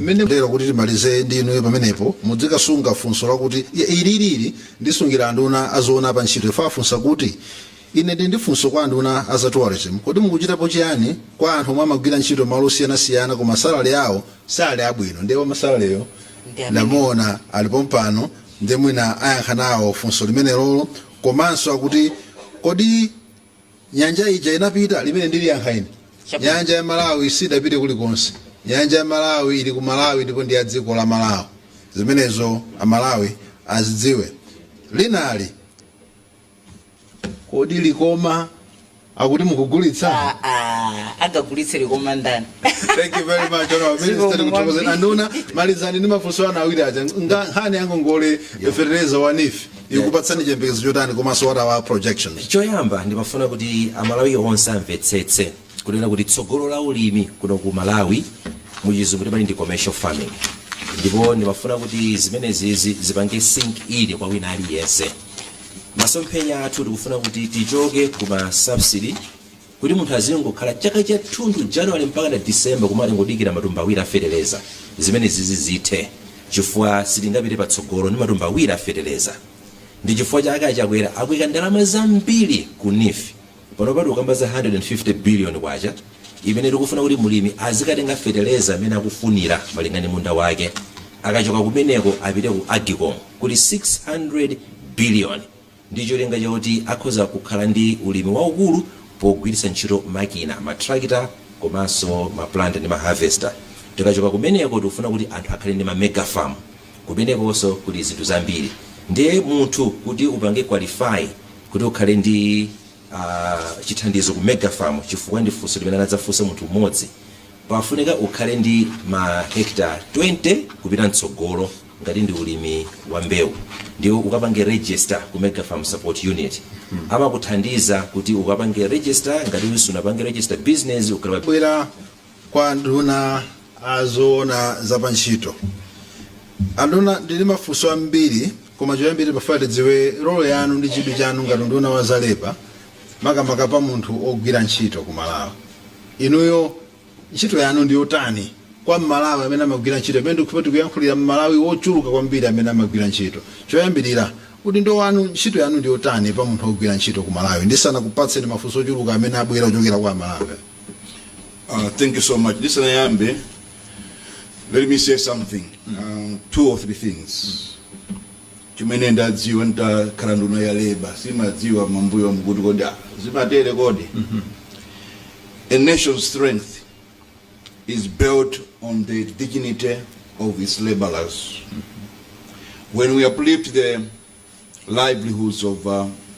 mmene lero kuti timalize ndi inuyo pamenepo mudzikasunga funso lakuti "Ya, ilili ndisungira anduna azoona pa ntchito yafunsa kuti ine ndi ndi funso kwa anduna a za tourism kodi mukuchitapo chiyani kwa anthu omwe amagwira ntchito malo osiyanasiyana koma salary yawo sali abwino ndiye wa ma salary yo Ndi amene. ndamuona ali pompano ndiye mwina ayankha nawo funso limenelo komanso akuti kodi Nyanja ija inapita? Limene ndiliyankha ine. Chabwino. Nyanja ya Malawi sidapite kulikonse. Nyanja ya Malawi ili ku Malawi ndipo ndi ya dziko la Malawi. Zimenezo Amalawi azidziwe. Linali, kodi Likoma akuti mukugulitsa? Ah, ah, agagulitse Likoma ndani? Thank you very much, Honorable Ziko Minister. Tikuthokozeni kwambiri. anduna malizani ndi mafunso anu awiri aja. Nga nkhani yangu ngongole ya fertilizer wa NEEF. ikupatsani chiyembekezo chotani komanso what are our projections choyamba ndimafuna kuti amalawi onse amvetsetse kunena kuti tsogolo la ulimi kuno ku malawi muchizungu timati ndi commercial farming ndipo ndimafuna kuti zimenezizi zipange sink in kwa wina aliyense masomphenya athu tikufuna kuti tichoke ku ma subsidy Kuti munthu azingokhala chaka chathunthu January mpakana December kumangodikira matumba awiri a feteleza, zimenezizi zithe chifukwa sitingapite patsogolo ndi matumba awiri a feteleza. Ndi chifukwa chake a Chakwera akuika ndalama zambiri ku NEEF. Panopa tikukamba za K150 biliyoni imene tikufuna kuti mlimi azikatenga feteleza m'mene akufunira malinga ndi munda wake. Akachoka kumeneko apite ku Agcom kuli K600 biliyoni. ndi cholinga choti akhoza kukhala ndi ulimi waukulu pogwiritsa ntchito makina, ma tractor komanso ma planter ndi ma harvester. Tikachoka kumeneko tikufuna kuti anthu akhale ndi ma mega farm. Kumenekonso kuli zinthu zambiri. Ndiye munthu kuti upange qualify kuti ukhale ndi aah chithandizo ku mega farm chifukwa ndi funso limene anadzafunsa munthu mmodzi, pafunika ukhale ndi ma hectare 20 kupita mtsogolo. ngati ndi ulimi wa mbewu ndiye ukapange register ku mega farm support unit amakuthandiza kuti ukapange register ngati usunapange register business ukabwera kwa nduna azoona za pa ntchito anduna ndili ndi mafunso ambiri koma choyambirira tikufuna tidziwe role yanu ndi chidwi chanu ngati nduna wa za labour makamaka pa munthu ogwira ntchito ku malawi inuyo Ntchito yanu ndi yotani kwa m'Malawi amene amagwira ntchito pamene ndikukhulupira tikuyankhulira m'Malawi wochuluka kwambiri amene amagwira ntchito? Choyambirira, udindo wanu, ntchito yanu ndi yotani pa munthu wogwira ntchito ku Malawi ndisanakupatseni mafunso ochuluka amene abwera kuchokera kwa m'Malawi? Uh, thank you so much. Ndisanayambe, let me say something, uh, two or three things. Chimene ndadziwa ntakhala nduna ya labour simadziwa mambuyomu kuti kodi ah zimatere kodi A nation's strength is built on the dignity of its labourers. When we uplift the livelihoods of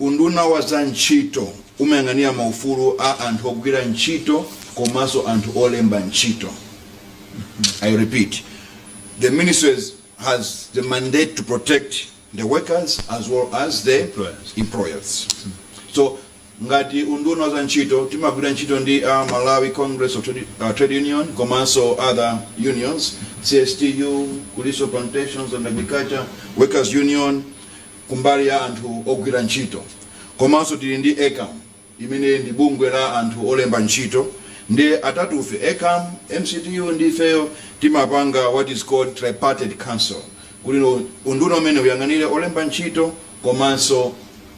Unduna wa za Ntchito umayang'anira maufulu a anthu ogwira ntchito komanso anthu olemba ntchito. I repeat, the ministry has the mandate to protect the workers as well as the employers. So ngati unduna wa za ntchito timagwira ntchito ndi a Malawi Congress of Trade, uh, Trade Union komanso other unions, CSTU, Kuliso Plantations and Agriculture Workers Union, kumbali ya anthu ogwira ntchito komanso tili ndi ECAM imene ndi bungwe la anthu olemba ntchito nde atatufe ECAM, MCTU ndi ifeyo timapanga what is called tripartite council kuti unduna umene uyang'anire olemba ntchito komanso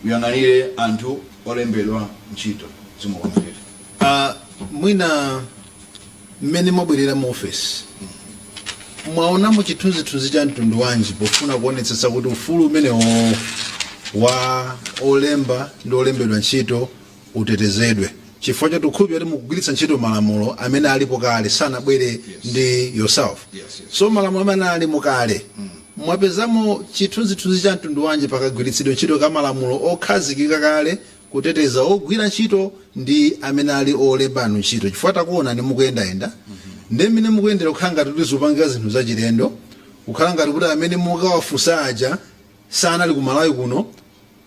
uyang'anire anthu olembedwa ntchito. Zikomo kwambiri. Mwina. mmene mwabwerera mu ofesi, mwaonamo chithunzithunzi cha mtundu wanji pofuna kuonetsetsa kuti ufulu umenewowo wa olemba ndi olembedwa ntchito utetezedwe chifukwa choti tikukhulupira kuti mukugwiritsa ntchito malamulo amene alipo kale sanabwere ndi yourself so malamulo amene alimo kale mwapezamo chithunzithunzi cha mtundu wanji pakagwiritsidwe ntchito ka malamulo okhazikika kale kuteteza ogwira ntchito ndi amene ali olemba anthu ntchito chifukwa takuonani mukuyendayenda ndi mmene mukuyendera kukhala ngati kuti zikupangika zinthu zachilendo kukhala ngati kuti amene mukawafunsa aja sanali ku malawi kuno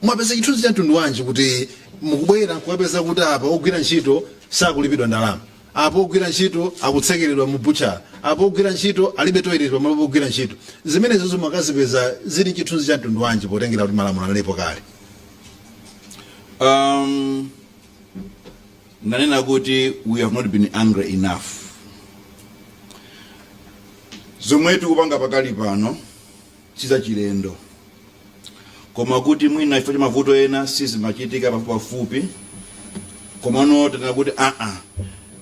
mwapeza chithunzi cha mtundu wanji kuti mukubwera nkukapeza kuti apa ogwira ntchito sakulipidwa ndalama apo ogwira ntchito akutsekeredwa mu butchara apo ogwira ntchito alibe toilet pamalo pogwira ntchito zimenezozo mwakazipeza zili chithunzi cha mtundu wanji potengera kuti malamulo analipo kale Um, nanena kuti we have not been angry enough zomwe tikupanga pakali pano sizachilendo koma kuti mwina chifukwa cha mavuto ena sizimachitika pafupipafupi komano tanena kuti aa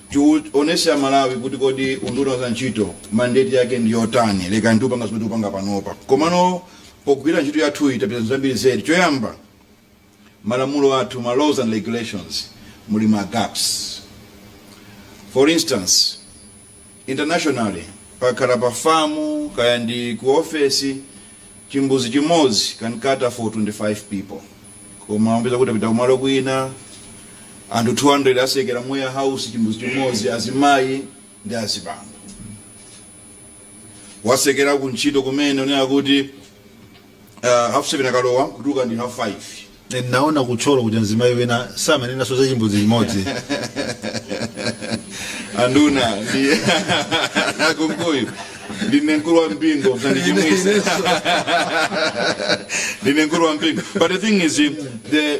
tionetse aMalawi kuti kodi unduna wa zantchito mandate yake ndi yotani lekani tipange zomwe tikupanga panopa komano Pogwira ntchito yathuyi tapeza zinthu zambiri zedi. Choyamba, malamulo athu, ma laws and regulations, muli ma gaps. For instance, internationally, pakakhala pa famu kaya ndi ku ofesi, chimbuzi chimodzi can cater for 25 people. Koma upeza kuti tapita kumalo kwina, anthu 200 atsekera mu warehouse chimbuzi chimodzi, azimayi ndi azibambo. wasekera ku ntchito kumene unena kuti uh, half seven akalowa kutuluka ndi half five Eh, naona ku thyolo kuti mzimayi wina samanenanso za chimbudzi chimodzi anduna ndi a kunkuyu ndine mkulu wa mpingo msandichimwitse ndine mkulu wa mpingo but the thing is the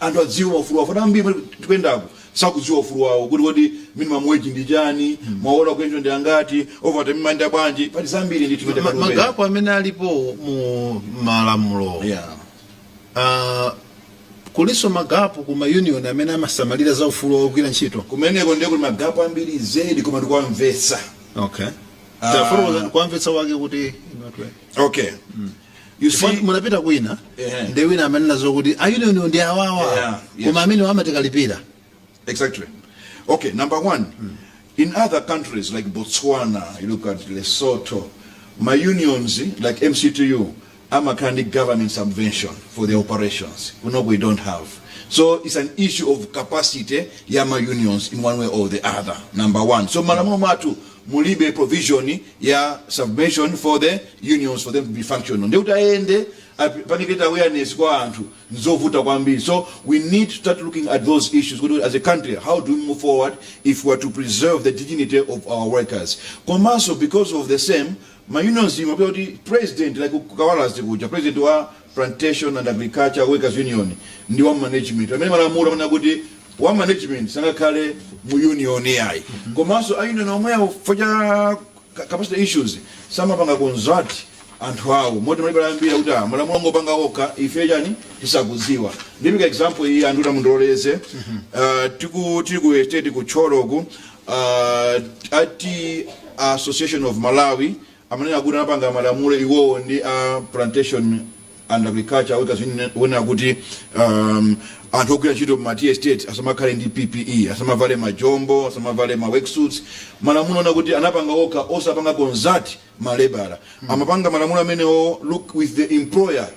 anthu adziwe maufulu wawo chifukwa ambiri pali tikuyendaku sakudziwa ufulu wawo kuti kodi minimum wage ndi chani maola a ku ntchito ndi angati overtime imayenda bwanji pali zambiri ndi Ma- tikuyendaku magapo amene alipo mu malamulo yeah Ah, kulinso magapo ku maunion amene amasamalira za ufulu wogwira ntchito kumeneko ndiye kuti magapo ambiri zedi koma tikuwamvetsa okay Ah. tafotokozani kuwamvetsa wake kuti okay You Chifukwa see, munapita kwina Ehe. ndi wina amanena zokuti a union ndi awawa Yeah, yes. koma amene amatikalipira Exactly. Okay, number one, in other countries like Botswana, you look at Lesotho, my unions like MCTU, I'm a kind of government subvention for the operations. We know we don't have. So it's an issue of capacity, yeah, my unions in one way or the other. Number one. So malamulo matu mulibe provision ya subvention for the unions for them to be functional ndiye kuti ayende apange create awareness kwa anthu nzovuta kwambiri so we need to start looking at those issues kuti as a country how do we move forward if we are to preserve the dignity of our workers komanso because of the same ma unions imapezeka kuti president like kawalazi kuja president wa Plantation and Agriculture Workers Union ndi wa management pamene malamulo amanena kuti wa management sangakhale mu union yayi komanso a union omwewo chifukwa cha ka- capacity issues samapanga consult anthu awo moti malebala ambiri akuti ah, malamulo angopanga okha ife chani tisakudziwa ndipereka example iyi anduna mundiloleze Ah, tiku tili ku estate ku thyoloku ah, a tea association of malawi amanena kuti anapanga malamulo iwowo ndi a plantation and agriculture workers union onena kuti um, anthu ogwira ntchito m'ma tea estate asamakhale ndi ppe asamavale majombo asamavale ma worksuits malamulo onena kuti anapanga okha osapanga consult malebala amapanga malamulo amenewo look with the employer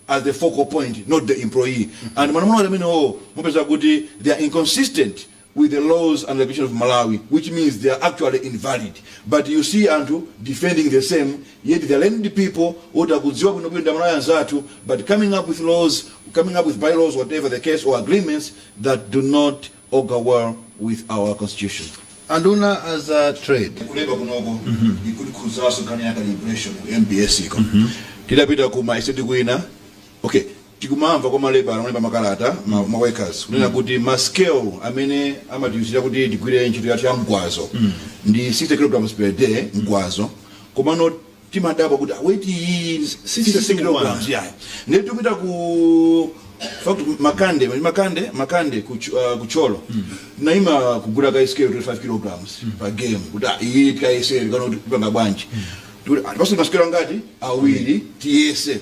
as the focal point not the employee and malamulo ngati amenewo mupeza kuti they are inconsistent with the laws and regulations of malawi which means they are actually invalid but you see anthu defending the same yet they are learned people oti akudziwa bwinobwino ndi amalawi anzathu but coming up with laws coming up with bylaws whatever the case or agreements that do not augur well with our constitution. Anduna a za trade kuleba kunoko ikutikhudzanso nkhani ya calibration ku mbs iko tidapita ku ma estate kwina okay tikumamva kwa malebala olemba makalata ma, ma workers kunena kuti ma scale amene amatiuzira kuti tigwire ntchito yathu ya mgwazo ndi 60 kilograms per day mgwazo komano timadabwa kuti weight iyi si 60 kg yayi ndiye tikupita ku fact ku makande mali makande makande ku Ch- ah, ku thyolo naima kugula ka scale 25 kg pa game kuti ah, iyi tikayesere kana kuti kupanga bwanji tikuti ah, tipasule masikelo angati awiri tiyese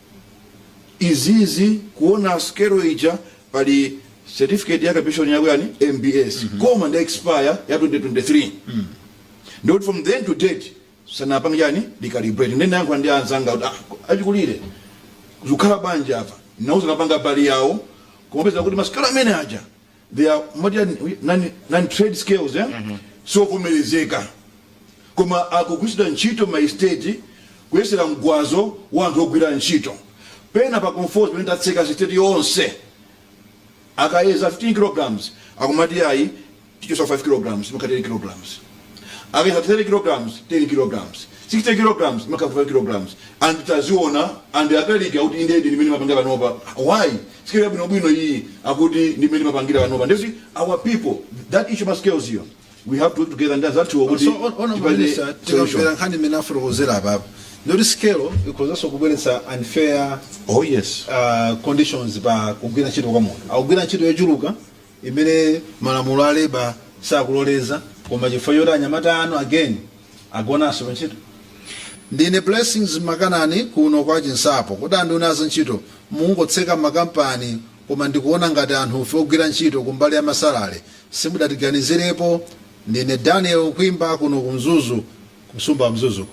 izizi kuona scale ija pali certificate ya calibration yako yani mbs koma ndi ya expire ya 2023 ndiye kuti from then to date sanapanga chani recalibrate ndiye ndinayankhula ndi anzanga kuti ah, achikulire zikukhala bwanji apa nauza anapanga mbali yawo kumapeza kuti masikelo amene aja they are modern non trade scales siovomerezeka koma akugwiritsidwa ntchito maesiteti kuyesera mgwazo wa anthu ogwira ntchito pena pa Conforzi pena tatseka esiteti yonse akayeza 15 kg akumati ayi tichotsa 5 kg imakhala 10 kg. akayeza 30 kg 10 kg 6 kg imakhala 5 kg and taziona and akaliki akuti inde ndi mmene timapangira panopa why scale yabwinobwino iyi akuti ndi mmene timapangira panopa nde these are our people that issue ma scales iyo we have to work together ndi azathuwo kuti so on- on tipeze solution minister. tikamamvera nkhani imene afotokozera apapo ndi yoti scale ikhozanso kubweretsa unfair oh yes uh, conditions pa kugwira ntchito kwa munthu akugwira ntchito yochuluka imene malamulo a labour sakuloleza koma chifukwa choti anyamata anu again agonanso pantchito ndine blessings makanani kuno kwa chinsapo kodi anduna a za ntchito mungotseka makampani koma ndikuona ngati anthu ife ogwira ntchito kumbali ya ma salary simudatiganizirepo ndine daniel kwimba kuno ku mzuzu kusumba mzuzuko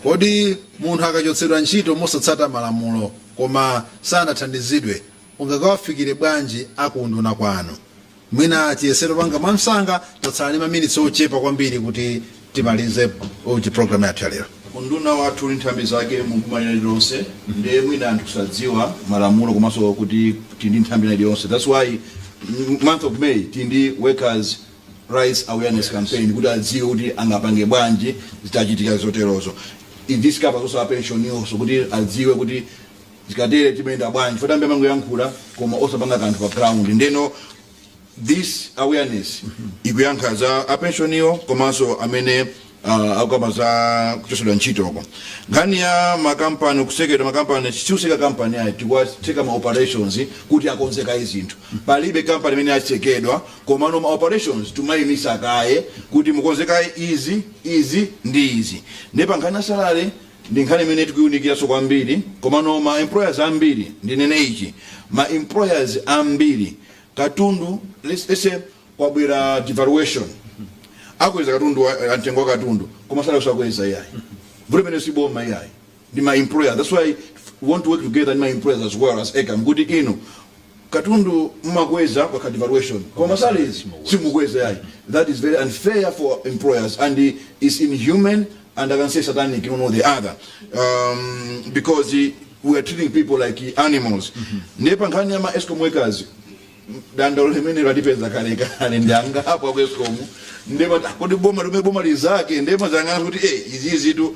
kodi munthu akachotsedwa ntchito mosatsata malamulo koma sanathandizidwe Ungakawafikire bwanji a ku unduna kwanu? Mwina tiyesere kupanga mwamsanga, tatsala ndi maminitsi ochepa kwambiri kuti timalize uji program yathu ya lero. Unduna wathu uli ndi nthambi zake mu boma lina lililonse nde mwina anthu sadziwa malamulo komanso kuti tili ndi nthambi ina iliyonse that's why mm, month of May tili ndi workers rights awareness campaign kuti adziwe kuti angapange bwanji zitachitika zoterozo this covers also a pensioniwo so kuti adziwe kuti zikatere timayenda bwanji chifukwa ambiri amangoyankhula koma osapanga kanthu pa ground ndeno this awareness ikuyankha za apensioniwo komanso amene uh, akukamba za kuchotsedwa ntchitoko nkhani ya makampani kutsekedwa makampani sitikutseka kampani ayi tikuwatseka ma operations kuti akonze kaye zinthu palibe kampani imene yatsekedwa komano ma operations timayimitsa kaye kuti mukonze kaye izi izi ndi izi nde pa nkhani ya salary Ndi nkhani imene tikuiunikiranso kwambiri komano ma employers ambiri ndinene ichi ma employers ambiri katundu let's let's say kwabwera devaluation akweza katundu wa a mtengo wa katundu koma salary sakweza iyayi vuto limenelo si boma iyayi ndi ma employers that's why we want to work together ndi ma employers as well as ecam kuti inu katundu mumakweza kukakhala devaluation koma salaries simukukweza yayi that is very unfair for employers and is inhumane and i can say satanic you know the other um, because we are treating people like animals mm -hmm. ndiye pa nkhani ya ma escom workers dandaulo limene latipeza kale ndi angapo aku escom nduna kodi boma limene boma lizake nduna inzanga ndinanena kuti eh izi izitu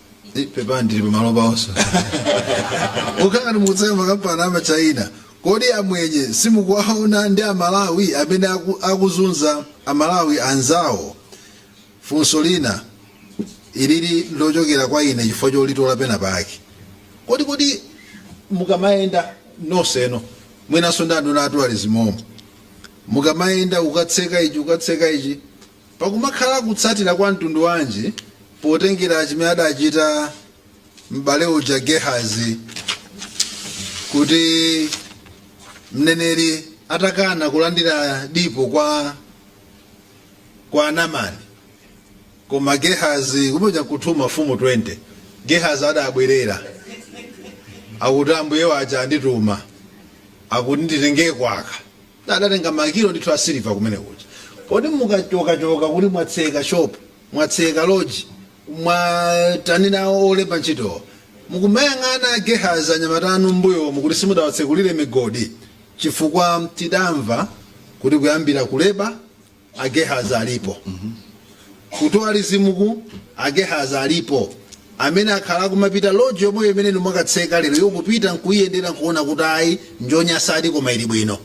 Eh, pepani tili pamalo pa wonso kukhala ngati mukutseka makampani a ma China kodi amwenye simukuwaona ndi amalawi amene aku, akuzunza amalawi anzawo funso lina ilili lochokera kwa ine chifukwa cholitola penapake kodi mukamayenda nonsenu mwinanso ndi anduna a tourism-mo mukamayenda ukatseka ichi ukatseka ichi Pakumakhala kutsatira kwa mtundu wanji potengera chimene adachita m'bale uja Gehazi kuti mneneri atakana kulandira dipo kwa Namani koma Gehazi kutchetcha kuti 2 Mafumu 20 Gehazi adabwerera akuti ambuye waja andituma akuti nditengeko kaka Adatenga makilo ndithu a siliva kumene kuja. Kodi mukachokachoka kuti mwatseka shop, mwatseka lodge, mwatani nawo olemba ntchito. Mukumayang'ana a Gehazi anyamata anu mmbuyomu kuti simudawatsekulire migodi chifukwa tidamva kuti kuyambira ku Leba Agehazi alipo ku tourism-ku agehazi alipo amene akhala akumapita lodge yomweyo imene inu mwakatseka lero iwo kupita nkuiyendera nkuona kuti ayi njonyasadi koma ili bwino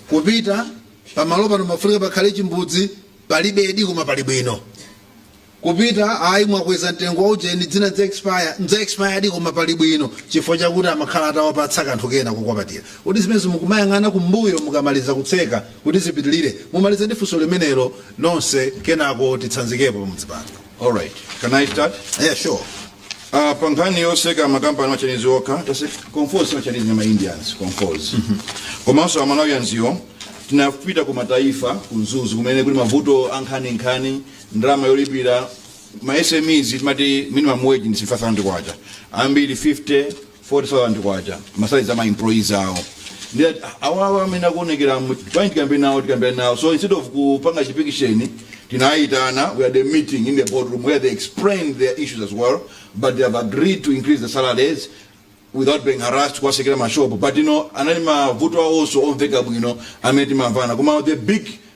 kupita pamalo pano mafunika pakhale chimbudzi palibedi koma pali bwino Kupita ayi mwakweza mtengo wa ujeni dzina ndza expired koma pali bwino chifukwa chakuti amakhala atawapatsa kanthu kena kukwapatira kodi zimenezo mukumayang'ana kumbuyo mukamaliza kutseka kuti zipitilire mumalize ndi funso limenelo nonse kenako titsanzikepo pamudzi pano Alright, can I start? yeah sure Uh, pa nkhani yotseka makampani a machinezi okha tatseka kofika kwa machinezi na maindians kofika komanso a Malawians iwo tinapita ku mataifa ku mzuzu kumene kuli mavuto a nkhaninkhani ndalama yolipira ma SMEs tinati minimum wage ndi 5000 kwacha ambiri 50 40000 kwacha masalaries ama employees awo ndi ati, awawa amene akuonekera mu- bwanji tikambe nawo tikambe nawo so instead of kupanga chipikisheni tinayitana we had a meeting in the boardroom where they explained their issues as well but they have agreed to increase the salaries without being harassed kuwatsekera mashopo but you know anali mavuto awo onse omveka bwino amene timamvana koma the big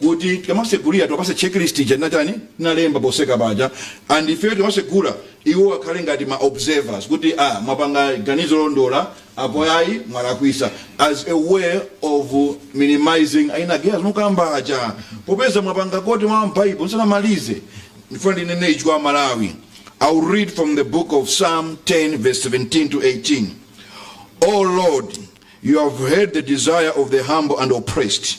kuti tikamasegulira tiwapatse checklist ija tinatani tinalemba potseka paja and ifeyo timasegula iwo akhale ngati ma observers kuti ah mwapanga ganizo londola apo ayi mwalakwisa as a way of minimizing a ina Gehazi mukamba aja popeza mwapanga quote mwa bible nsanamalize ndifuna ndinene ichi kwa amalawi i will read from the book of psalm 10 verse 17 to 18 oh lord you have heard the desire of the humble and oppressed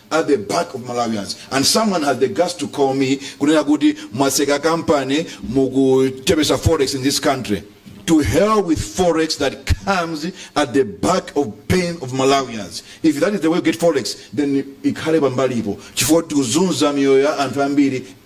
at the back of Malawians and someone has the guts to call me kunena kuti mwatseka company mukuchepesa forex in this country to hell with forex that comes at the back of pain of Malawians if that is the way we get forex then ikhale pambalipo chifukwa tikuzunza miyoyo ya anthu ambiri